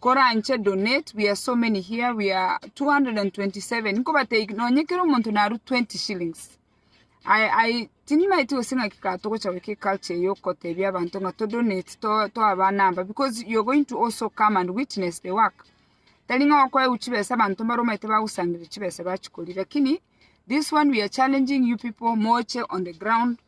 koranche donate wia so many here wia 227 nkobatebie nonye kera omonto narue 20 shillings I I tinimaeti gose ng'aki ka togocha goika eculture eye okotebia abanto ng'a to donate to toa aba number because you are going to also come and witness the work tari ng'a okoeu chibesa abanto mbare omanyete bagosangereria chibesa bachikorire lakini this one we are challenging you people moche on the ground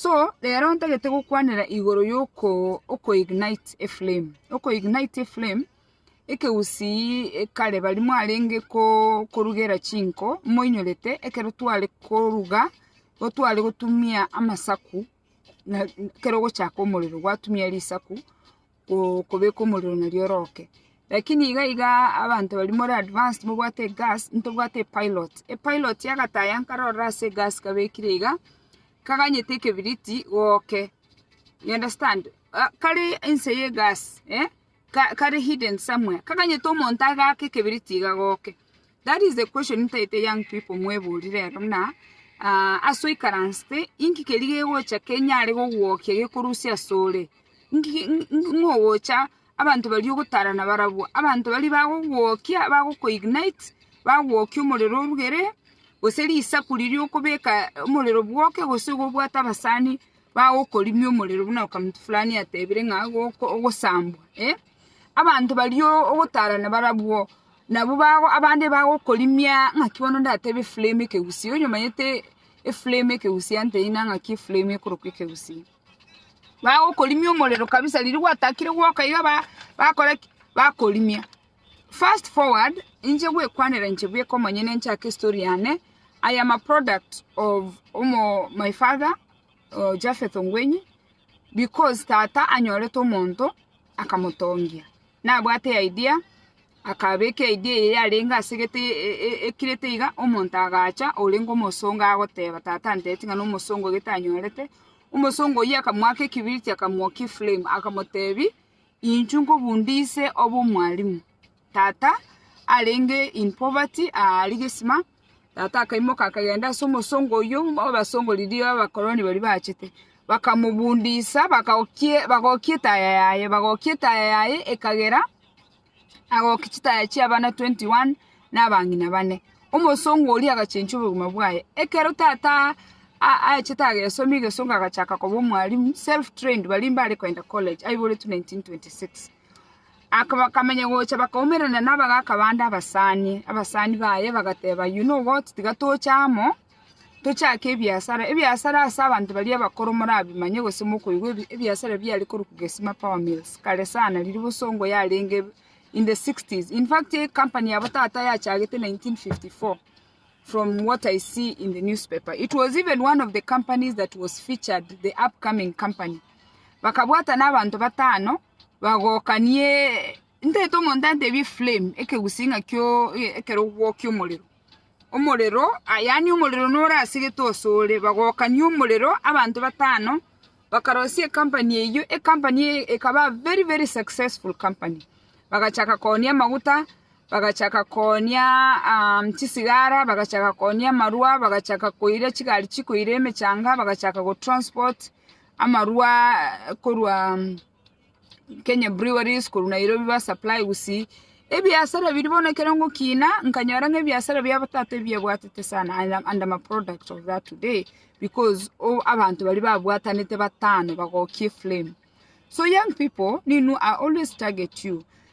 So rero ntagete gokwanera igoro yoko ignite a flame. Oko ignite a flame ekeusi kare baria mwarenge korugera chinko moinyorete ekero tware koruga gotware gotumia amasaku ekero ogochaka omorero gwatumia risaku kobeka omorero nario oroke. Lakini iga iga abanto baria more advanced mobwate egas, ntobwate epilot. Epilot yagataya nkarora ase egas kabekire iga, kaganyete ekebiriti goke. You understand? Kare ense ye egas, eh, kare hidden somewhere. Kaganyete omonto agake ekebiriti iga goke. That is the question ntaete young people mweborire rero buna ase oikaransete inki keria gegocha kenyare gogwokia gekorusia ase ore, inki ng'o ogocha abanto baria ogotara nabarabwo, abanto baria bagogwokia bagogo ignite bagwokia omorero orugere gose risaku riria okobeka omorero bwoke gose igo obwate abasani bagokorimia omorero buna okamtu fulani atebire ng'a ogosambwa abanto baria ogotara nabarabwo Nabo abande bagokorimia ng'aki bono ndatebe eframe ekegusia. Onye omanyete eframe ekegusia nteine ang'e ng'aki eframe ekorokwa ekegusia. Bagokorimia omorero kabisa riria gwatakire gwoka iga ba bakore ki? Bakorimia. Fast forward inche gwekwanera inche bweka omonyene nchake estory yane, I am a product of omo my father Japheth Ongwenyi because tata anyorete omonto akamotongia. Nabwate eidia, akabeka eidia eye yarenge ase egete ekirete iga, omonto agacha orenge omosongo agoteba, Tata antebeti ng'a nomosongo egete anyorete. Omosongo oyio akamoaka ekibiriti akamokia eflame, akamotebi, Inchuo nkobunde ise obe omwalimu. Tata arenge in poverty aria gisima. Tata akaimoka akagenda ase omosongo oyio, obe ase riria abakoroni baria bachete. Bakamobundisa, bakagokia bagokia etaya yaye, bagokia etaya yaye ekagera, agokia chitaya chia abana twenty one, na abang'ina bane. Omosongo oria agachenchia obogima bwaye. Ekero tata a- achete agesoma egesongo agachaka koba omwalimu, self trained, baria mbare kogenda college, aiboretwe nineteen twenty six. Bakamenya gocha bakaumerana nabagaaka bande abasani. Abasani baye bagateba, Oyio noboti, tiga toche amo, tochake ebiasara. Ebiasara ase abanto baria abakoro morabimanye gose mokoigwa ebiasara biare korwa Gesima Power Mills kare sana riria bosongo yarenge in the sixties. In fact eye company yabo tata yachagete nineteen fifty four from what I see in the newspaper. It was even one of the companies that was featured the upcoming company. Bakabwatana abanto batano bagokanie ntaete omonto antebie flame ekegusii ng'a kio ekerogwo ki'omorero, omorero yaani omorero nore ase gete osore bagokania omorero abanto batano bakarosia ecompany eywo ecompany eye ekaba very very successful company bagachaka koonia amaguta, bagachaka koonia chisigara, bagachaka koonia amarwa, bagachaka koira chigari chikoira emechanga, bagachaka gotransport Amarwa korwa Kenya Breweries korwa Nairobi ba supply gusii ebiasara biria bono ekero ngokina nkanyora ng'a ebiasara bia tata ebiabwatete sana and am a product of that today because abanto baria babwatanete batano bagokia eflame so young pipo ninu I always target you.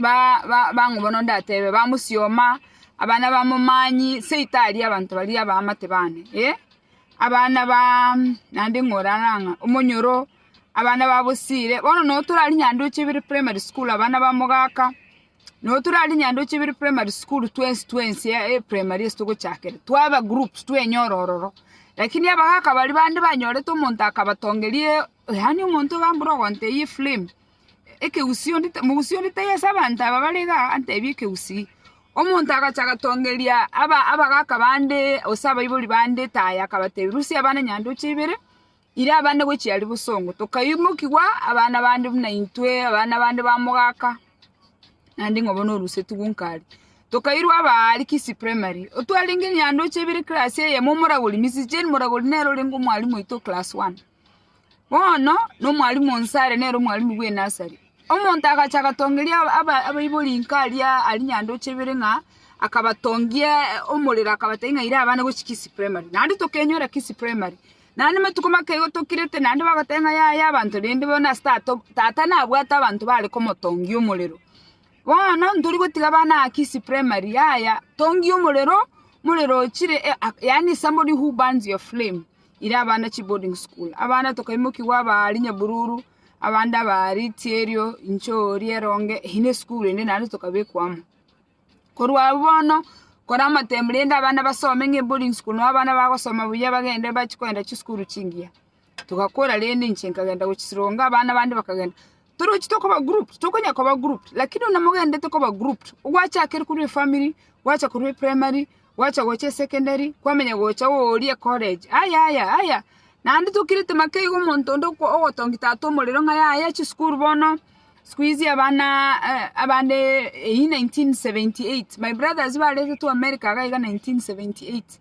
bang'u bono ndatebe, bamosioma, abana ba momanyi, seito aria abanto baria abaamate baane, eh, abana ba naende ng'orare ang'a, omonyoro, abana ba bosiire, bono nabo tore aria nyandoche ibere primary school abana ba mogaka, nabo tore aria nyandoche ibere primary school twensi twensi primary ase togochakera, twaba groups twenyora ororo, lakini abagaka baria bande banyorete omonto akabatongeria. Yaani omonto ogambora ogontebia eframe, ekegusii onde, omogusii onde taiyo ase abanto aba bare iga antebie ekegusii. Omonto agacha agatongeria abagaka bande gose abaibori bande etaya akabatebia rusia abana nyandoche ibere, ira abande gochia aria bosongo. Tokaimokiwa abana bande buna intwe, abana bande ba mogaka, naende ng'a bono orusetigwe nka aria. Tokairwa aba aria Kisii Primary, otwarenge nyandoche ibere class eyemo omoragori, Mrs. Jane moragori nere orenge omwarimu oito o class one. Bono nomwalimu o Nsare nere omwalimu bw'enasari. Omonto agacha agatongeria abaibori inko aria aria nyandoche ibere ng'a akabatongia omorero akabatebia ng'a ira abana gochia Kisii Primary. Naende tokenyora Kisii Primary, naende amatuko make igo tokirete naende bagoteba ng'a yaya abanto rende bono ase tata tata nabwate abanto bare komotongia omorero. Bono ntori gotiga abana aa Kisii Primary yaya tongia omorero, morero ochire yaani somebody who burns your flame. ire abana chiboarding school, abana tokaimokigwa abaari nyabururu, abande abaari chierio, inchori, eronge, eyio nesukuru ende naende tokabekwa amo. Korwa abwo bono, kore amatembe rende abana basome ng'a eboarding school nabo abana bagosoma buya bagende bachie kogenda chisukuru chingiya. Togakora rende inche nkagenda gochisironga abana bande bakagenda. Torochi tokoba grouped, tokonya koba grouped, lakini buna mogenderete koba grouped, ogwachakire korwa efamily, gwacha korwa eprimary, gwacha gocha esecondary, kwamenya gocha oori ecollege, aya aya aya, naende tokirete make iga omonto onde oko ogotongi tata omorero ng'a yaya chisukuru bono, siku hizi abanaaa abande eywo nineteen seventy eight, my brothers baretetwe america iga nineteen seventy eight.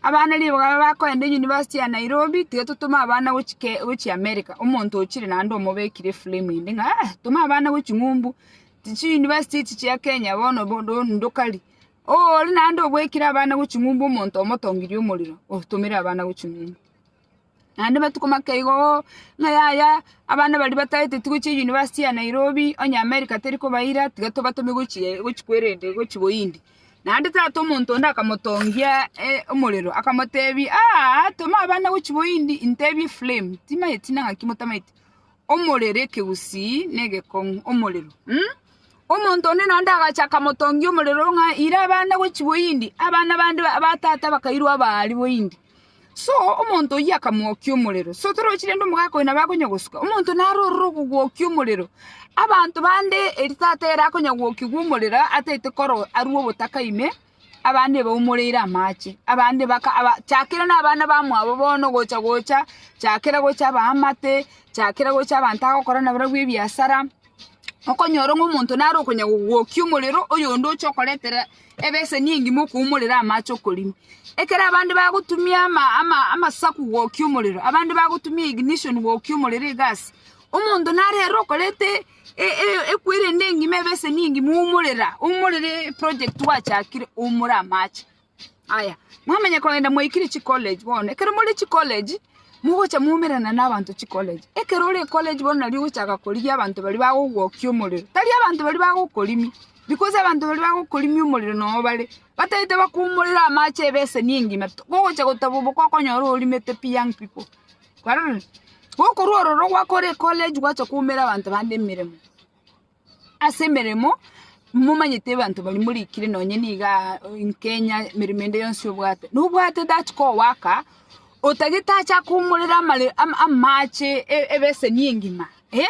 Abana ribaga babe bakoenda eyunivasiti ya Nairobi, tiga totome abana gochia ke- gochia America, omonto ochire naende omobekire eframe ende ng'a ah toma abana gochia ching'umbu, chi- chiunivasiti echi chia Kenya bono bo- ndo- ndokari. Oore naende obwekire abana gochia ching'umbu omonto omotongirie omorero, otomere abana gochia ching'umbu. Naende amatuko make igo oo, ng'a yaya abana baria batagete tigochia university ya Nairobi, onye America teri kobaira, tiga tobatome gochia eh gochia kwerende gochia Bohindi. Naende tata omonto onde akamotongia omorero, akamotebia, aa toma abana gochia Bohindi, ntebie flame, timanyeti ng'a naki motamaeti, omorero ekegusii na egekong'u, omorero mh, omonto onde naende agacha akamotongia omorero ng'a ira abana gochia Bohindi, abana bande ba tata bakairwa aba aria Bohindi. So omonto oyio akamwokia omorero. So torochi rende omogaka oyo nabo akonya gosuka. Omonto naro ororo okogwokia omorero. Abanto bande eri tata ere akonya gwokigwa omorero ataete koro arue obotaka ime, abande baumoreire amache. Abande baka aba chakere na abana bamwabo bono gocha gocha, chakera gocha abaamate, chakera gocha abanto agokora nabarabwo ebiasara. okonyora ng'a omonto nare okonya gogwokia omorero, oyonde oche okoretera ebeseni engima okoumorera amache okorina. Ekero abande bagotumia ama ama amasaku gwokia omorero, abande bagotumia ignition gwokia omorero egasi, omonto nare ere okorete e- e- equerende engima ebeseni engima oumorera oumorere eproject gwachakire oumore amache. Aya, mwamanya kogenda mwaikire chicollege bono. Ekero more chicollege, mogocha mwaumerana nabanto chicollege. Ekero ore ecollege bono nari ogochaka korigia abanto baria bagogwokia omorero. Tari abanto baria bagokorimia, because abanto baria bagokorimia omorero nobo bare, batagete bakoumorere amache ebeseni engima, bogocha goteba oboka okonyora orimete pi young pipo. Kwarorire? Gokorwa ororo gwakora ecollege gwacha koumera abanto bande emeremo. Ase emeremo, momanyete abanto baria morikire nonye niga nkenya emeremo ende yonsi obwate. Nobwate that kogoaka, otagete ache akomorere amare amache ebeseni engima eh,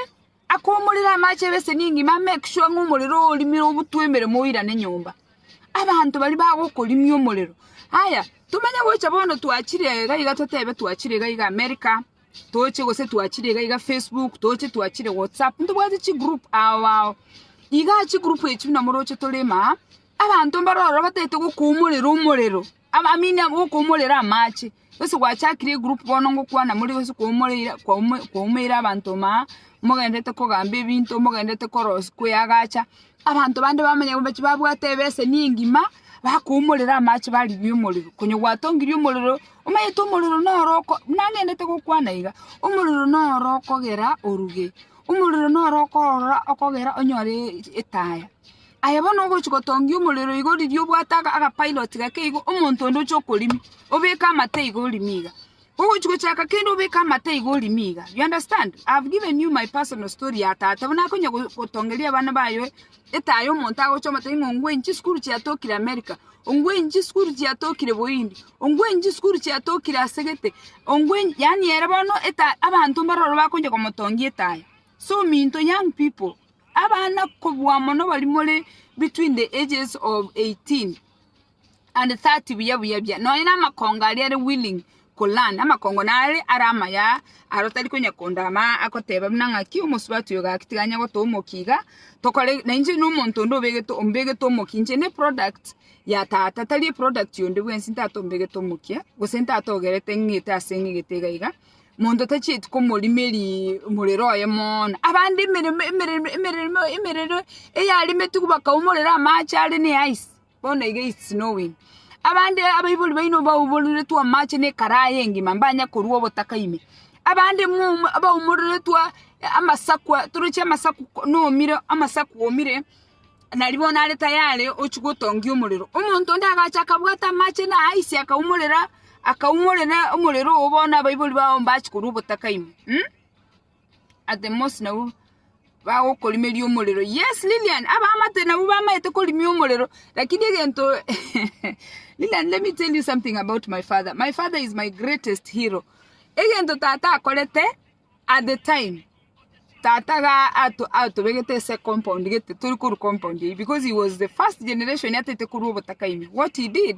akomorere amache ebeseni engima amake sure ng'a omorero ogo orimire obutwe emeremo oirane nyomba. Abanto baria bagokorimia omorero. Aya, tomanye gocha bono twachire iga iga totebe twachire iga iga America. Toche gose twachire iga iga Facebook, toche twachire WhatsApp, ntobwati chigroup ao ao. Iga chigroup echio buna moroche torema aa, abanto mbaro ororo batagete gokoumorera omorero, aba I mean gokoumorera amache. Gose gwachakire egroup bono ngokwana more gose kwaumoreire kwaumo kwaumeire abanto maa, mogenderete kogamba ebinto, mogenderete koros koyagacha, abanto bande bamanya mbachi babwate ebeseni engima, bakoumorera amache barigia omorero. Konya gwatongirie omorero. Omanyete omorero noro oko... Nang'endete gokwana iga, omorero noro okogera oruge, omorero noro okoorora okogera onyore etaya. Aye bono ogochia gotongia omorero igo riria obwate aga- agapilot gake igo, omonto onde oche okorimia, obeke amato iga orimie iga. Ogochia gochaka kende obeke amato iga orimie iga. You understand? I have given you my personal story ya tata, buna akonya go- gotongeria abana baye Etaya omonto agochoma tari ng'a ongwenyi chisukuru chiatokire Amerika, ongwenyi chisukuru chiatokire Bohindi, ongwenyi chisukuru chiatokire ase gete, ongwenyi yaani ere bono etaya abanto mbare ororo bakoncha komotongia etaya. So minto young people, abana kobua mono baria more between the ages of eighteen. And that buya buya buya nonya namakongo aria are willing ko learn amakongo nare are amaya aro tari konya kondama agoteba buna ng'aki omosubati oyo gaki tiganya gotoa omokia iga tokore na inche na omonto onde obegete ombegete omokia inche ne product ya tata tari eproduct yonde bwensi ntata ombegete omokia gose ntata ogerete ng'ete ase ng'egete iga iga monto tachieti komorimeeri omorero oye mono abande emeremo emeremo emeremo emerero eyarimetigwe bakaumorera amache are ne ice Bono iga is snowing. Abande abaibori baino baumororetwe amache na ekarayi engima mbanye korwa obotaka ime. Abande mwa baumororetwe amasakwa toroche amasaku nomire amasaku omire nari bono are tayari ochi gotongia omorero. Omonto onde agacha akabwata amache na aise akaumorera akaumorera omorero obo bono abaibori bago mbachi korwa obotaka ime. at the most nabo bagokorimeria omorero yes Lilian abamate nabo bamaete korimia omorero lakini egento Lilian let me tell you something about my father my father is my greatest hero egento tata akorete at the time tata ga ato- atobegete ase compound gete tori korwa compound eye because he was the first generation ataete korwa obotaka ime what he did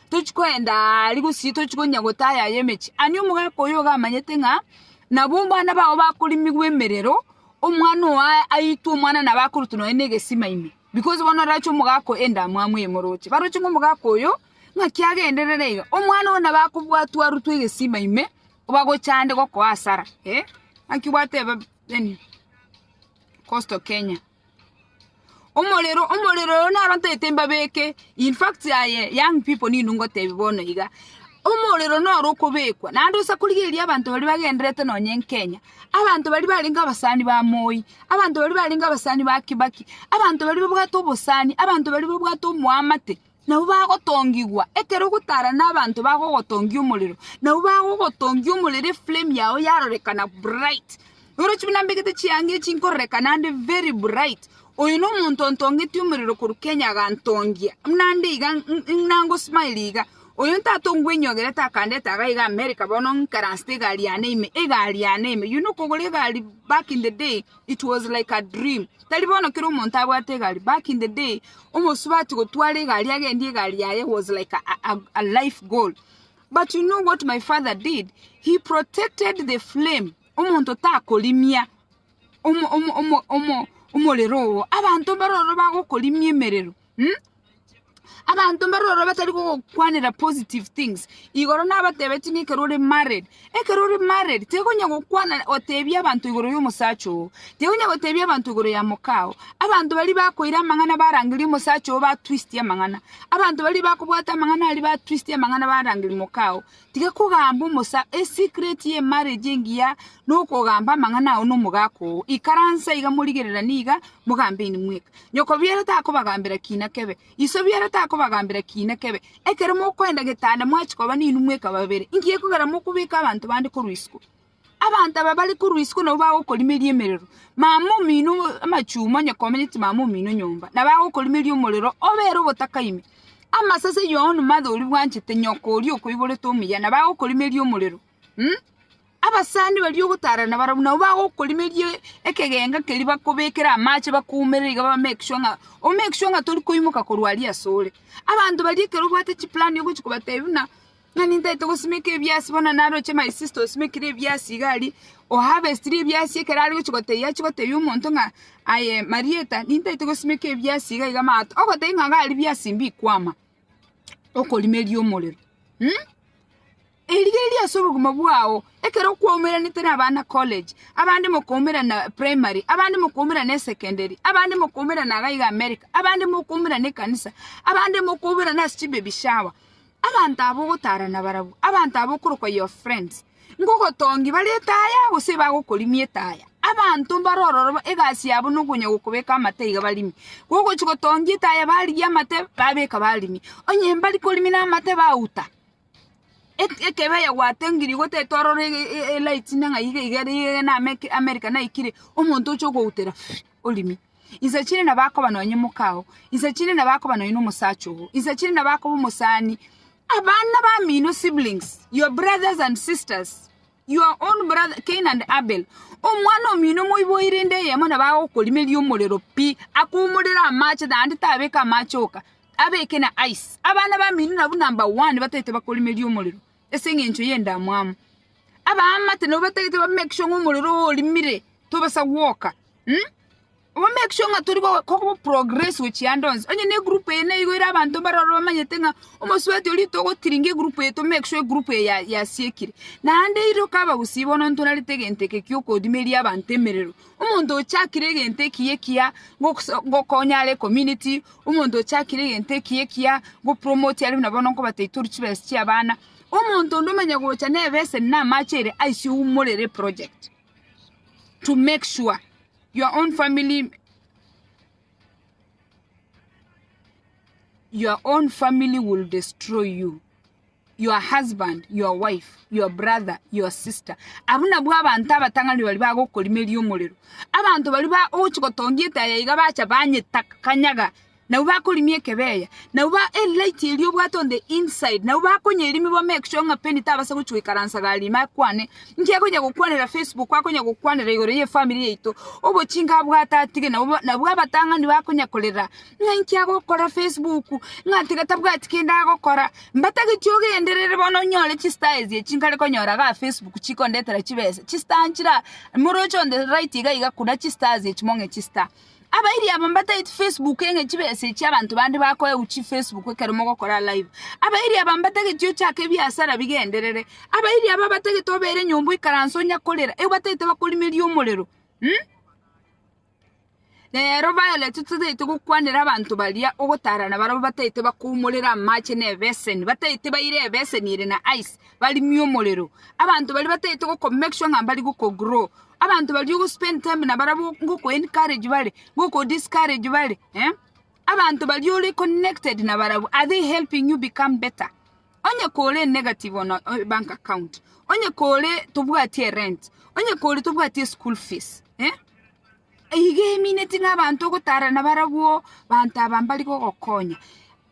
tochi koenda aa aria gosii tochi konya gotaya aya emechie. Ani omogaka oyo iga amanyete ng'a nabo mbana bao bakorimigwa emerero, omwana oyo aa aitwe omwana nabo akorutwa nonye na egesima ime, because bono orache omogaka oyo endamwamu eye moroche. Baroche ng'a omogaka oyo, ng'aki agenderere iga, omwana oyo nabo akobwatwa arutwe egesima ime, bagocha ande gokoa asara, eh, naki gwateba then coastal Kenya. Omorero omorero oyo naro ntaete mbabeke in fact aye young people ninu ngotebia bono iga omorero noro okobekwa naende osa korigereria abanto baria bagendererete nonye nkenya abanto baria barenge abasani ba moi abanto baria barenge abasani ba kibaki abanto baria babwate obosani abanto baria babwate omoamate. Nabo bagotongigwa, ekero ogotara nabanto bagogotongia omorero, nabo bagogotongia omorero eflame yao yarorekana bright. Orochi buna mbegete chianga echi nkororekana ande very bright. Oyo nomonto ontongeti omorero korwa Kenya agantongia, buna ande iga ng'- nangosmile iga. Oyo ntato ngwenyiogerete akandete iga iga America bono ng'ikaranste egari yane ime, egari yane ime, you know okogora egari back in the day. It was like a dream. Tari bono kera omonto abwate egari. Back in the day, omosubati gotwara egari agendie egari yaye was like a, a, a life goal. But you know what my father did? He protected the flame. Omonto takorimia omo- omo- omo- omo- omorero oo. Abanto baroro bagokorimia emerero. Hmm? Abanto mbare ororo batari gogokwanera positive things. Igoro nabatebetie ng'a ekero ore married, ekero ore married tigonya gokwana otebia abanto igoro y'omosacha oo, tigonya gotebia abanto igoro ya moka oo. Abanto baria bakoira amang'ana barangeria omosacha oo batwistie amang'ana, abanto baria bakobwata amang'ana aria batwistie amang'ana barangeria moka oo. Tiga kogamba omosaa esecret ye marriage engiya nokogamba amang'ana ao nomogaka oo. Ikaransa iga morigererane iga mogambe inweka. Nyoko biero takobagambera kiina kebe. Iso biero takobagambera kiina kebe. Ekero mokoenda getanda mwachikoba ninwe mweka babere. Ngiya ekogera mokobeka abanto bande korwa isiko. Abanto aba bare korwa isiko nabwo bagokorimeria emerero, mama omino amachuma onye komenyete mama omino nyomba, na bagokorimeria omorero obere obotaka ime. Amasase yono mathe oria bwanchete nyoko oria okoiborete omuya, na bagokorimeria omorero. Abasani baria ogotaarana barabwo nabwo bagokorimeria ekegenga keria bakobekere amache bakoumerere iga ba make sure ng'a o make sure ng'a tori koimoka korwa aria asore. Abanto baria ekero obwate chiplani ogochi kobatebia buna Ng'a nintaete gosimeka ebiasi bono naroche my sister osimekire ebiasi iga aria o harvestire ebiasi ekero are gochia gotebia achie gotebia omonto ng'a aye Marieta nintaete gosimeka ebiasi iga iga mato ogotebia ng'a iga aria biasi mbikwama okorimeria omorero eriga eria ase obogima bwao ekero kwaumeranete na abana college abande mokaumerana primary abande mokaumerana esecondary abande mokaumerana iga iga America abande mokaumerana ekanisa abande mokaumerana ase chibaby shower. Abanto aba ogotaarana barabwo abanto aba okorokwa your friends, ngogotongi bare etaya, gose bagokorimia etaya. Abanto mbare ororo egasi yabo nokonya gokobeka amate iga barimie. Gogochi gotongia etaya barigia amate babeka barimie. Onye mbari korimia na amate bauta. Ek- ekebe ya gwatengirie goteta orore e- e- elight nang'ai iga iga iga na Ame- America naikire, omonto oche okoutera orimie. Inse chire nabo akoba nonye moka oo. Inse chire nabo akoba nonye nomosacha ogo. Inse chire nabo akoba omosani. Abana bamino, siblings, your brothers and sisters, your own brother, Cain and Abel. Omwana omino moiboire inde eyemo nabo agokorimeria omorero pi, akoumorere amache naende tabeke amache oka, abeke na ice. Abana bamino nabwo number one bataete bakorimeria omorero. ase eng'encho y'endamwamu. Abaamate nabo batagete ba make sure ng'a omorero oo orimire tobasa gwoka um, ba make sure ng'a tori go- kogo progress gochia ande onsi. Onye na egroup eye nigo ere abanto mbare ororo bamanyete ng'a omosubati oria togotiringa egroup eye to make sure egroup eye ya- yasiekire. Naende iroka abagusii bono ntorarete egento eke giokoodimeria abanto emerero, Omonto ochakire egento ekiya ekiya ngokonya are community, omonto ochakire egento ekiya ekiya ngo promote are buna bono nkobata itoru chibesa chiabana, omonto onde omanya gocha na ebeseni na amache ere aise oumorere eproject to make sure your own family your own family will destroy you. your husband, your wife, your brother, your sister. Abu nabwo abanto abatang'ani bari bagokorimeria omorero. Abanto bari ba ochi gotongia etaya iga bacha banyetakanyaga. Nabo bakorimia ekebeya. Nabo ba e light eri obwate on the inside. Nabo bakonyerimia bo make sure ng'a peni tabasa gochi goikaransa gari ime akwane. Inki akonya gokwanera Facebook, akonya gokwanera igoro ye family yaito. Obochinga abwate atige nabo nabwo abatang'ani bakonya korera Ng'ainki agokora Facebook ng'a tiga tabwati kende agokora? Mbatageti ogenderere bono onyore chistar echi chinkare konyora iga Facebook chikondetera chibesa. Chistar nchira moroche on the right iga iga kuna chistars echi mong'e chistar. Abairi aba mbatageti Facebook eng'e chibesa echi abanto bande bakoeu chi Facebook ekero mogokora live. Abairi aba mbatageti ochake ebiasara bigenderere. Abairi aba batagete obere nyomba oikaranse onyakorera, ebatagete bakorimeria omorero. Rero baeletwe totaete gokwanera abanto baria ogotaara na barabwo bataete bakoumorera amache na ebeseni, bataete baire ebeseni ere na ice barimie omorero. Abanto baria bataete goko make sure ng'a mbari goko grow. Abanto baria ogo spend time na barabwo ngoko encourage bare, ngoko discourage bare, eh? Abanto baria ore connected na barabwo, are they helping you become better? Onye kore negative on your bank account, onye kore tobwati erent, onye kore tobwati eschool fees, eh? Iga emineti ng'a abanto ogotara nabarabwo banto aba mbare gogokonya.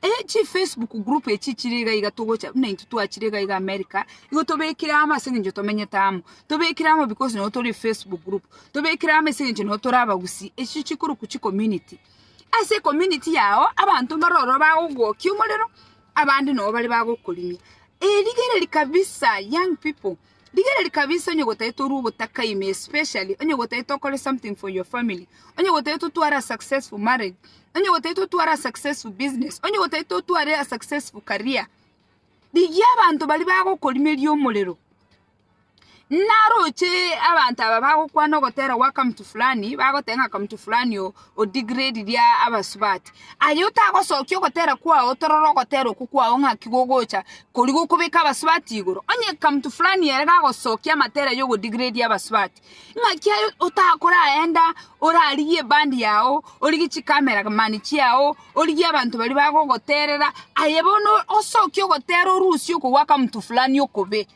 Eh, chifacebook group echi chire iga iga togocha buna intwe twachire iga iga America, igo tobekire amo ase eng'encho tomenyete amo, tobekire amo because nabo tore efacebook group, tobekire amo ase eng'encho nabo tore abagusii, echio chikorokwa chicommunity. Ase ecommunity yago, abanto mbare ororo bagogwokia omorero. Abande nao bare bagokorimia, Eh, rigereria kabisa, young people, rigereria kabisa onye gotaete orue ogotaka ime especially onye gotaete okore something for your family, onye gotaete otware a successful marriage, onye gotaete otware a successful business, onye gotaete otware a successful career, rigia abanto baria bagokorimeria omorero. Naroche abanto aba bagokwana ogotera gwa kamutu fulani, bagoteba ng'a kamutu fulani oo o degrade ria abasubati. Aye otagosokia ogotera kwao torora ogotera okwo kwao ng'aki gogocha koria gokobeka abasubati igoro. Onye kamutu fulani ere gagosokia amatera aye ogo degrade abasubati, ng'aki aye otakoraenda orarigie ebandi yao, origie chikamera mani chiao, origie abanto baria bagogoterera, aye bono osokie ogotera orusia okwo gwa kamutu fulani okobe.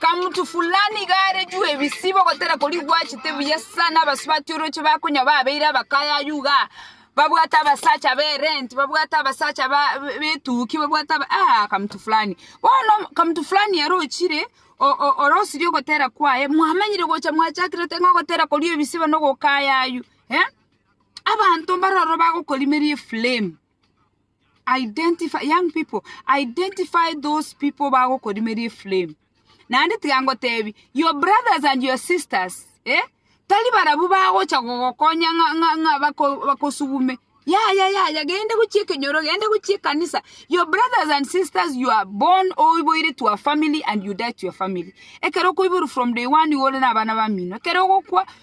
Kamutu fulani iga arejwe ebisibo gotera koria gwachete buya sana, abasubati oroche bakonya babeire abakayaya iga, babwate abasacha b'erenti, babwate abasacha ba b'etuki, babwate aba aa Kamutu fulani. Bono Kamutu fulani arochire orosirie ogotera kwaye mwamanyire gocha mwachakirete ng'a ogotera koria ebisibo na ogokayaywa abanto mbaroro bagokorimeria eflame. Identify, young people, identify those people bagokorimeria eflame. Naende tiga ngotebi, your brothers and your sisters, eh? Tari barabwo bagocha gogokonya ng'a ng'a ng'a bako, bakosugume. Yaya yaya gende gochia ekenyoro gende gochia ekanisa your brothers and sisters you are born oiboire to a family and you die to your family ekero okoiborwa from day one igo ore na abana bamino ekero ogokwa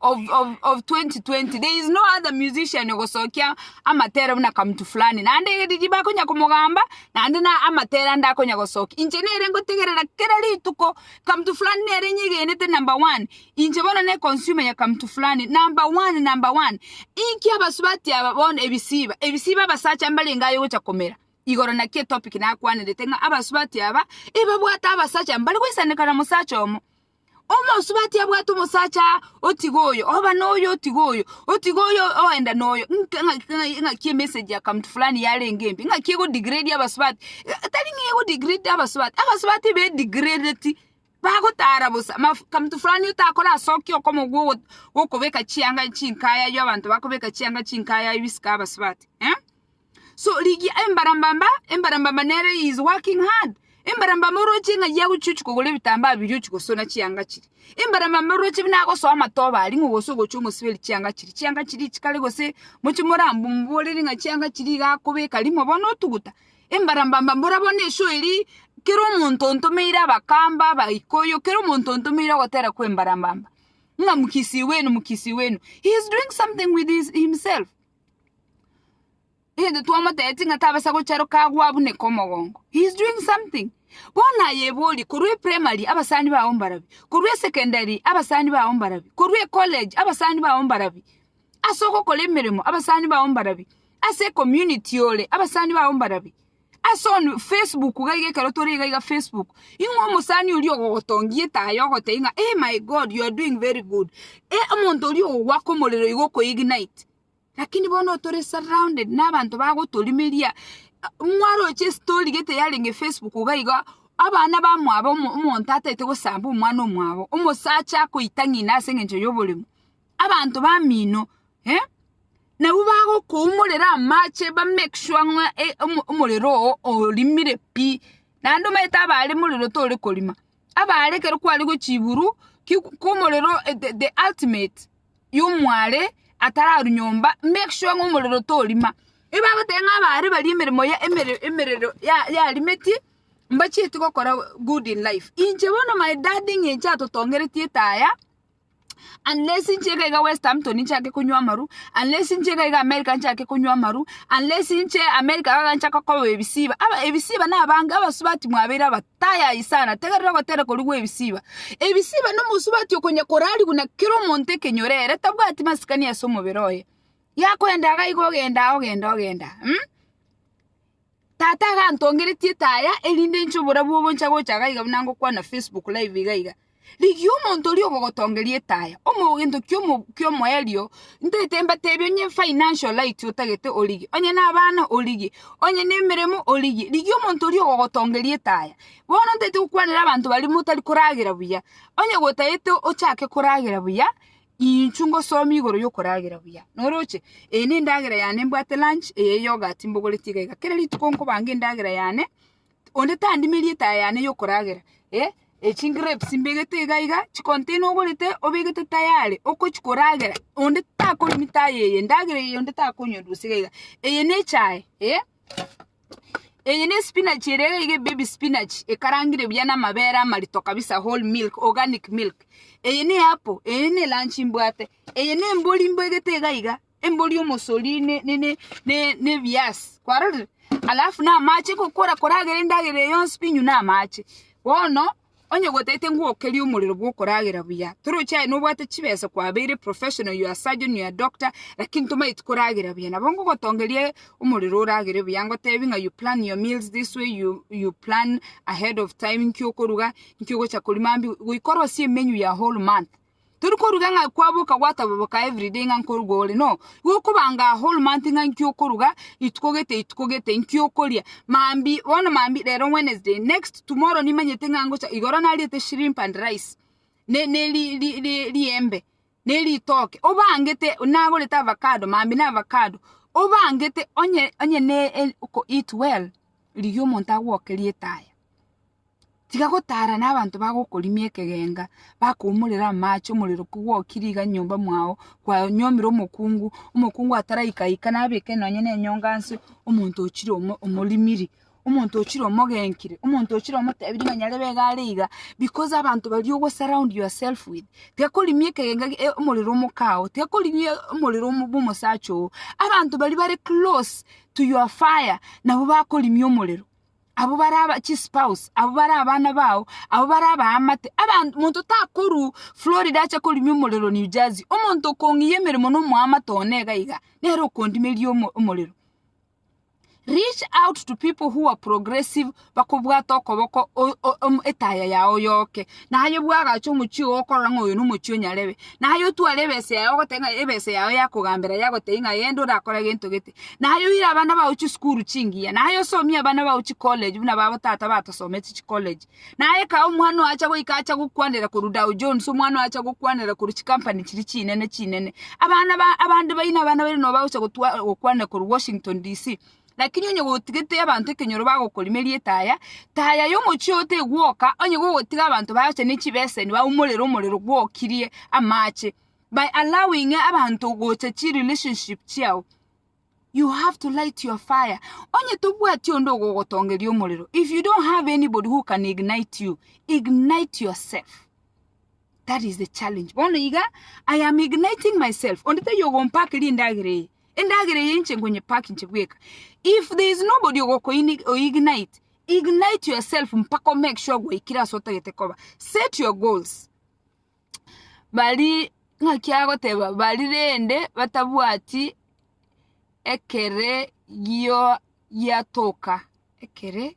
of, of, of 2020 there is no other musician ogosokia amatere buna kamutu fulani naende eriri bakonya komogamba naende na amatere ande akonya gosokia inche nere ngotegerera kera rituko kamutu fulani nere nyegenete number one inche bono ne consumer ya kamutu fulani number one number one inki abasubati aba bono ebisiba ebisiba abasacha mbarenge aye gocha komera igoro naki etopic nakwanerete ng'a abasubati aba ebabwate abasacha mbare goisanekana mosacha omo Omosubati abwate omosacha aa, otiga oyo, oba noyo otiga oyo, otiga oyo oenda noyo, ng'a- ng'a- ng'a- ng'aki emessage ya county fulani yarenge mbe, ng'aki ego degrade abasubati, eh, tari ng'a ego degrade abasubati, abasubati be degradeti, bagotara bosa maf- county fulani otakora ase okia okomo gwogo- gokobeka chianga chinka yaye abanto bakobeka chianga chinka yaye bisike abasubati eh. So rigia embarambamba, embarambamba nere he is working hard. Embarambamba oroche ng'a ye agochia ochia kogora ebitambaa biria ochia gosona chianga chiria. Embarambamba oroche buna agosoa amatoba aria ng'a ogose ogochia omosiberi chianga chiria, chianga chiria chikare gose mochie moramborere ng'a chianga chiria iga akobeka rimo bono otuguta. Embarambamba mbora bono eshow eria kera omonto ontomeire abakamba, abaikuyu, kera omonto ontomeire ogotera kwa embarambamba ng'a mkisii wenu mkisii wenu he is doing something with his himself. egento twamotebeti ng'a tabasa gocharoka agwo abuneke omogongo he is doing something bono aye ebori korwa eprimary abasani bago mbarabi korwa esecondary abasani bago mbarabi korwa ecollege abasani bago mbarabi ase ogokora emeremo abasani bago mbarabi ase ecommunity ore abasani bago mbarabi. Ase on Facebook gaiga ekero tore iga iga Facebook ing'we omosani oria ogogotongia etaya ogotebia ng'a eh my God you are doing very good eh omonto oria ogogoaka omorero iga oko ignite lakini bono tore surrounded na abanto bagotorimeria mwaroche estory gete yarenge Facebook iga iga abana bamwabo omonto ataete gosamba omwana omwabo omosacha akoita ng'ina ase eng'encho yoborimo. Abanto bamino eh, nabwo bagokoumorera amache ba make sure ng'a eh, omo- omorero oo orimire pi naende omanyete abaare morero tore korima abaare ekero kware gochiburu kiku- komorero eh, the- the ultimate yomware atararu nyomba make sure ng'a omorero torima ebagoteba ng'a abaare baria emeremo ya emere emerero ya- yarimeti mbachieti gokora good in life. Inche bono my dad ng'a inche atotongereti etaya. unless inche iga iga west Hampton nchake konywa amaru, unless inche iga iga America nchake konywa amaru, unless inche America iga nchake koba ebisiba, aba ebisiba na abange abasubati mwabeire aba tayai sana, tegerera ogoteera koria gwa ebisiba, ebisiba na omosubati okonya korari buna kera omonto ekenyoro ere tabwati masikani ase omobere oye, yakoenda iga iga ogenda ogenda ogenda mh. Tata agantongeretie etaya erinde inche oborabu obo ncha gocha iga iga buna ngokwana Facebook live iga iga. Rigia omonto oria ogogotongeria etaya, omogento kiomo kiomoerio, ntaete mbatebi onye financial light otagete origie, onye na abana origie, onye na emeremo origie, rigia omonto oria ogogotongeria etaya. Bono ntaete gokwanera abanto baria motari koragera buya, onye gotaete ochake koragera buya, Inchuo ngosomie igoro yokoragera buya. Noroche? Eye nendagera yane mbwate lunch, eye yoghurt mbogoreti iga iga. Kera rituko nkobanga endagera yane, onde tandime erieta yane yokoragera. Eh, chigrapes mbegete iga iga, chicontainer ogorete obegete tayari okochia koragera, onde takoremi taye eye, endagera eye onde takonywera gose iga iga. Eye nechae, eh. Eye ne spinach ere iga baby spinach ekarangire buya na amabere amarito kabisa whole milk organic milk. Eye ne apple, eye ne lunch mbwate, eye ne embori mbegete iga iga, embori omosori ne ne ne ne ne ebiasi. Kwarorire? Alafu na amache kokora koragera endagera eye yonsi pi inywe na amache. Bono Onye gwataete ng'a okerie omorero bw'okoragera buya, toroche aye nobwate chibesa kwabeire professional, your surgeon, your doctor, lakini tomanyeti koragera buya. Nabo ngogotongeria omorero oragere buya, ngotebie ng'a you plan your meals this way, you you plan ahead of time nki okoruga, nki ogocha korima mambia, goika orosie emenu ya whole month. Tori koruga ng'a kwaboka gwataboboka every day ng'a nkoruga ore no. Igo okobanga a whole month ng'a inki okoruga ituko gete ituko gete inki okoria. Maambia bono maambia rero Wednesday next tomorrow nimanyete ng'a ngocha igoro nariete shrimp and rice ne ne ri ri ri riembe ne ritoke obangete nagorete avacado maambia na avacado obangete onye onye ne e oko eat well riria omonto agokeria etaya. Tiga gotara nabanto bagokorimia ekegenga, bakoumorera amache, omorero kogwokire iga nyomba mwao, kwanyuomire omokungu, omokungu ataraika ika nabeke nonye ne enyonga nse, omonto ochire omo- omorimiri, omonto ochire omogenkire, omonto ochire omotebirie ng'a nyarebe iga are iga, because abanto baria ogo surround yourself with, tiga korimia ekegenga gi- e- omorero omokao, tiga korimia omorero omo- bwa omosacha oo, abanto baria bare close to your fire nabo bakorimia omorero. abwo bare aba chispouse, abwo bare abana bao, abwo bare abaamate, aban monto takorwa Florida ache korimia omorero New Jersey, omonto okong'iyia emeremo na omoamate one iga iga, nere okondimeria omo- omorero. Reach out to people who are progressive bakobwate okoboko o- o- om- etaya yao yoke. na aye bwagache omochie oo okorora ng'a oyo nomochie o nyarebe, na aye otware ebesa yaye ogoteba ng'a ebesa yao ya kogambera yagotebia ng'a genda orakore gento gete, na aye oire abana bao chisukuru chingiya, na aye osomie abana bao chicollege buna babo tata batosomete chicollege, na aye kaa omwana oo acha goika acha gokwanera korwa Dow Jones, omwana oo acha gokwanera korwa chicompany chiria chinene chinene, abana ba abande baino abana baino nobagocha gotwa gokwanera korwa Washington DC. Lakini onye gotigete abanto ekenyoro bagokorima erieta aya, taya y'omochie oo tegwoka, onye gogotiga abanto baacha ne chibeseni baumorere omorero gwokirie amache by allowing abanto gocha chi relationship chiao. You have to light your fire. Onye tobwati onde ogogotongeria omorero, if you don't have anybody who can ignite you, ignite yourself. That is the challenge. Bono iga, I am igniting myself. Onde taiyo ogompaka eria endagera eye. Endagera eye inche nkonyepack inche bweka. If there is nobody ogokoini- oignite, ignite yourself mpaka omake sure gwaikire ase otagete koba. Set your goals. Baria ng'aki agoteba baria rende batabwati ekere gio- giatoka, ekere?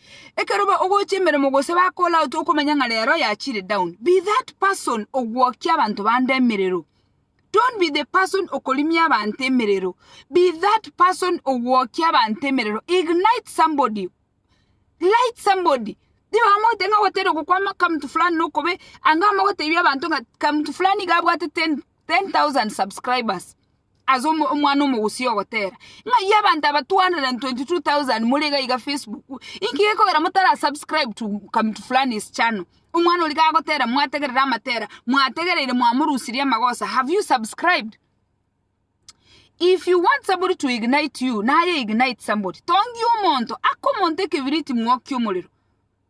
Ekero bagochia emeremo gose bakora out okomanya ng'a rero yachire down. Be that person ogwokia abanto bande emerero. Don't be the person okorimia abanto emerero. Be that person ogwokia abanto emerero. Ignite somebody. Light somebody. Tiba mogote ng'a gotera gokwama kamutu fulani nokobe anga ama gotebi abanto ng'a kamutu fulani iga abwate 10 10,000 subscribers ase omo- omwana omogusia ogotera ng'ai abanto aba 222,000 muri iga iga facebook inki gekogera motara subscribe to come to fulani's channel omwana oria gagotera mwategerera amatera mwategereire mwamorusirie amagosa have you subscribed if you want somebody to ignite you naye ignite somebody tongia omonto aka omonto ekebiriti mwokie omorero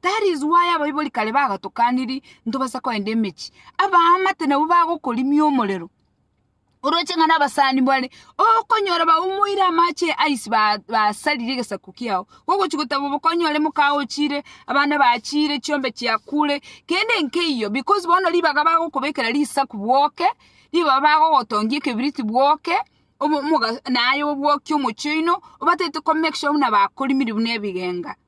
That is why abaibori kare bagatokaniri ntobasa kogenda emechie. Abaamate nabwo bagokorimia omorero. Oroche ng'a nabasani bare, okonyora baumoire amache ice ba- basarire egesaku kiao. Ogochi goteba bokonyore mokao ochire, abana bachire, chiombe chiakure, kende nkeiyo because bono ribaga bagokobekera risaku bwoke, ribaga bagogotongia ekebiriti bwoke, omo- omoga naye obwokie omochie oino, obatagete ko make sure buna bakorimiri buna ebigenga.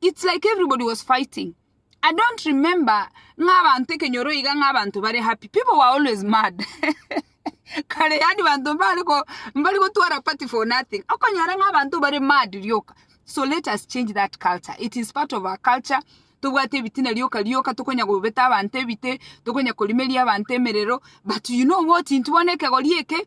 it's like everybody was fighting i don't remember ng'a abanto ekenyoro iga ng'a abanto bare happy people were always mad kare yani banto mbare ko mbare gotwara party for nothing okonyora ng'a abanto bare mad rioka so let us change that culture it is part of our culture tobwate ebitina rioka rioka tokonya gobeta abanto ebite tokonya korimeria abanto emerero but you know what intwe bono ekegori eke